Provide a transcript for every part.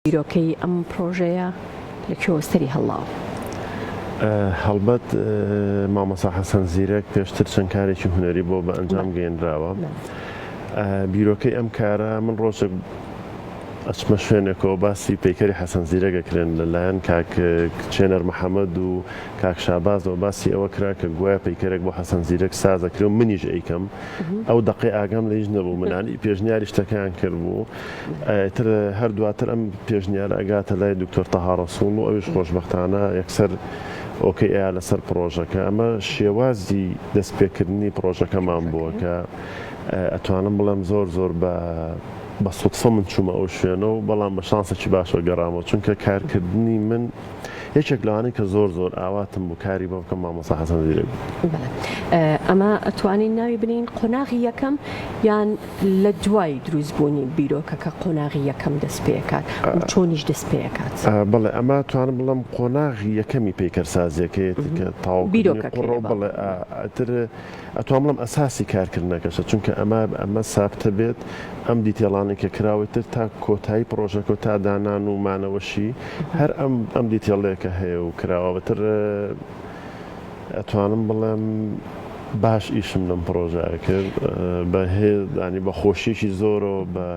بیرۆکەی ئەم پڕۆژەیە لە کوێوە سەری هەڵاوە؟ هەڵبەت مامۆستا حەسەن زیرەک پێشتر چەند کارێکی هونەری بۆ بە ئەنجام گەێنراوە. بیرۆکەی ئەم کارە من ڕۆژێک ئەچمە شوێنێکەوە باسی پەیکەری حەسەن زیرەگەکرێن لەلایەن کاک چێنەر محەممەد و کاک شابازەوە باسی ئەوە کرا کە گوایە پەیکەرێک بۆ حەسەن زیرەک سازەکرێ و منیش ئەیکەم ئەو دقی ئاگام لە هیچ نەبوو منانی پێشنیاری شتەکەیان کرد بوو ئیتر هەر دواتر ئەم پێشنیارە ئەگاتە لای دکتۆر تەها ڕەسوڵ و ئەویش خۆشبەختانە یەکسەر ئۆکەی ئەیا لەسەر پڕۆژەکە. ئەمە شێوازی دەست پێکردنی پڕۆژەکەمان بووە کە ئەتوانم بڵێم زۆر زۆر بە بە سوتفە من چوومە ئەو شوێنە و بەڵام بە شانسێکی باشەوە گەڕامەوە چونکە کارکردنی من، یەکێک لەوانەی کە زۆر زۆر ئاواتم بوو کاری بۆ بکەم مامۆستا حەسەن زیرەک بوو. ئەمە ئەتوانین ناوی بنین قۆناغی یەکەم یان لە دوای دروست بوونی بیرۆکەکە قۆناغی یەکەم دەست پێکات چۆنیش دەست پێکات بڵێ ئەمە توانم بڵم قۆناغی یەکەمی پیکەرسازیەکەیەتی کە تاو بیرۆکە بڵێ ئەتر ئەتوام بڵێم ئەساسی کارکردنەکەشە چونکە ئەما ئەمە سابتە بێت ئەم دیتێڵانەی کە کراوەی تر تا کۆتایی پڕۆژەکەو تا دانان و مانەوەشی هەر ئەم ئەم دیتێڵەیە کە هەیە و کراوە بەتر ئەتوانم بڵێم باش ئیشم لەم پڕۆژایە کرد بە هێ دانی بە خۆشیەکی زۆرەوە بە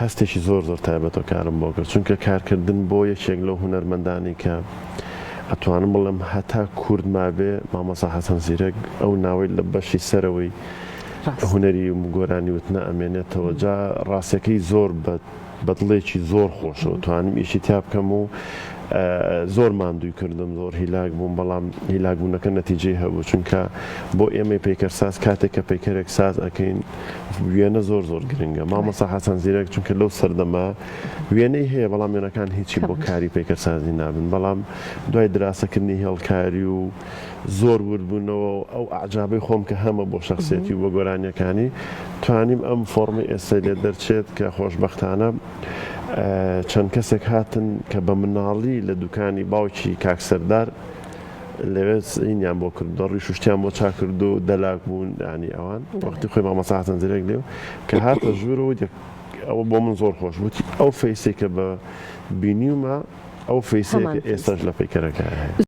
هەستێکی زۆر زۆر تایبەتە کارم بۆ کرد چونکە کارکردن بۆ یەکێک لەو هونەرمەندانی کە ئەتوانم بڵێم هەتا کورد مابێ مامۆسا حەسەن زیرەک ئەو ناوەی لە بەشی سەرەوەی هونەری گۆرانی وتنە ئەمێنێتەوە جا ڕاستەکەی زۆر بە بە دڵێکی زۆر خۆشەوە توانم ئیشی تیا بکەم و زۆر ماندووی کردم زۆر هیلاک بووم بەڵام هیلاکبوونەکە نەتیجەی هەبوو چونکە بۆ ئێمەی پەیکەرساز کاتێک کە پەیکەرێک ساز ئەکەین وێنە زۆر زۆر گرنگە مامۆسا حەسەن زیرەک چونکە لەو سەردەما وێنەی هەیە بەڵام وێنەکان هیچی بۆ کاری پەیکەرسازی نابن بەڵام دوای دراسەکردنی هێڵکاری و زۆر وردبوونەوە ئەو ئاجابەی خۆم کە هەمە بۆ شخصێتی و بە گۆرانیەکانی توانیم ئەم فۆرمی ئێستا لێ دەرچێت کە خۆشببختانە چەند کەسێک هاتن کە بە مناڵی لە دوکانی باوکی کاکسەردار لەوێ سینیان بۆ کرد دەڕی شوشتیان بۆ چا کرد و دەلاک بوون ینی ئەوان وەختی خۆی مامەسا حەسەن زرێک لێو کە هاتە ژوور و ئەوە بۆ من زۆر خۆش وتی ئەو فەیسێکە بە بینیومە ئەو فەیسێکە ئێستاش لە پەیکەرەکە هەیە.